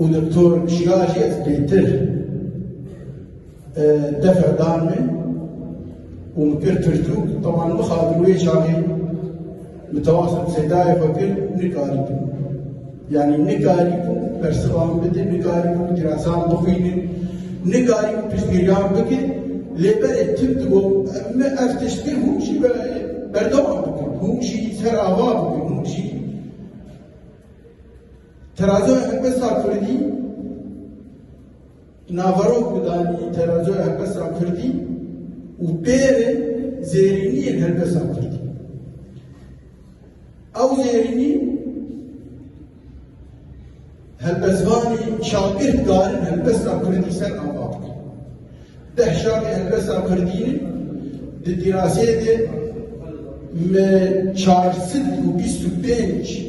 Û doktor jiya jî ez bêtir defer dan min û min kir pirtûk teman bixabin wê çaxê min tewasa bi sedayê xwe kir nikaribûm yanî nikarîbûm bersivan bidim nikarîbûm dirasan bixwînim nikarîbûm piştgiriyan bikim lê berê tim dibû min ev tişt kir hûn jî berdewam bikim hûn jî ser ava bikim hûn jî Terazoya Helbesta Kurdî naverok bi danî terazoya helbesta Kurdî û pêrê zêrîniyên helbesta Kurdî. Ew zêrînî helbestvanî şabir darin helbesta Kurdî ser ava bikin. Deh şabê helbesta Kurdî di dîrasê de me 425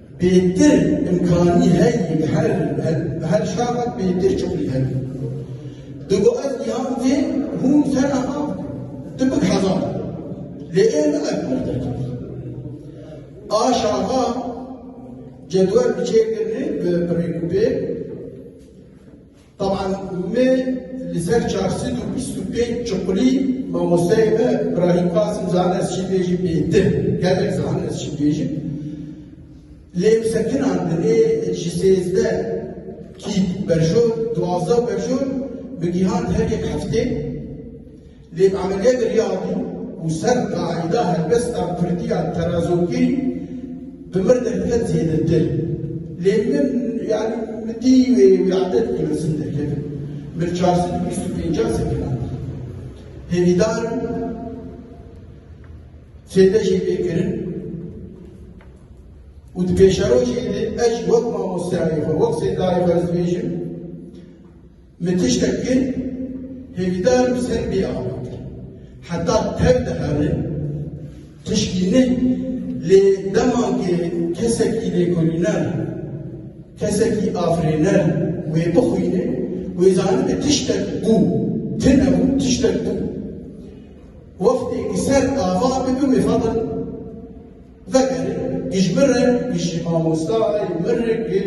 Bêtir imkanî heye bi her bi her şaxek bêtir çixûl heye. Di bo ez niha vê hûn te niha tu bi kaza lê ê min ev pir te kir. A şaxa cedwel bi çêkirine bi pirêkûpê Taban me li ser çar sed û bîst û pênc çuqulî mamosteyê me Îbrahîm Qasim Zan ez çî bêjim ê din gelek zan ez çî bêjim lêmsekinan dinê ji sêzdeh kît berjor duwazdeh berjor bi gîhan her yek heftê Lê ameliyek riyabû û ser qaîda helbesta kurdiya terazokî bi mir derket zêdetir. Lê min yani min dî wê wê adet li Misin derkevin. Min çar sed û bîst û pêncan sekinan dî. Hêvîdar im sêde jî pê kirin û di pêşerojê de ez jî wek mamosteyayê xwe, wek sêdayê xwe ez dibêjim Min tiştek kir, hêvîdar bi ser bê awan kir. Heta tev dihere tişkî ne, lê dema ke kesekî lêkolîner, kesekî afirêner wê bixwîne, wê zanibe tiştek bû, tine bû, tiştek bû. Wextê ke ser ava dibe wê xebir vegere, giş bire, giş jî mamosta ye, mir e ke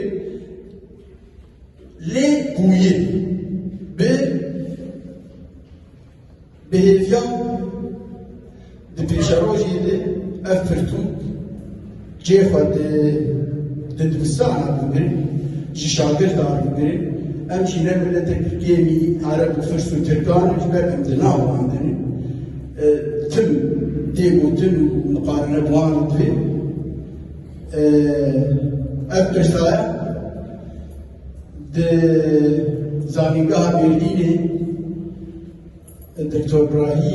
Lê bûyê bi bêhêviya di pêşerojê de ev pirtûk cê xwe di di dibistana bigrin ji şagirdan bigrin em jî ne milete Tirkiyeyê Arab û Firs û Tirkan ji ber em di nav andin tim tê gotin û miqarene bi wan dibê Ev pirsa di zanîngeha Mêrdînê Doktor Brahî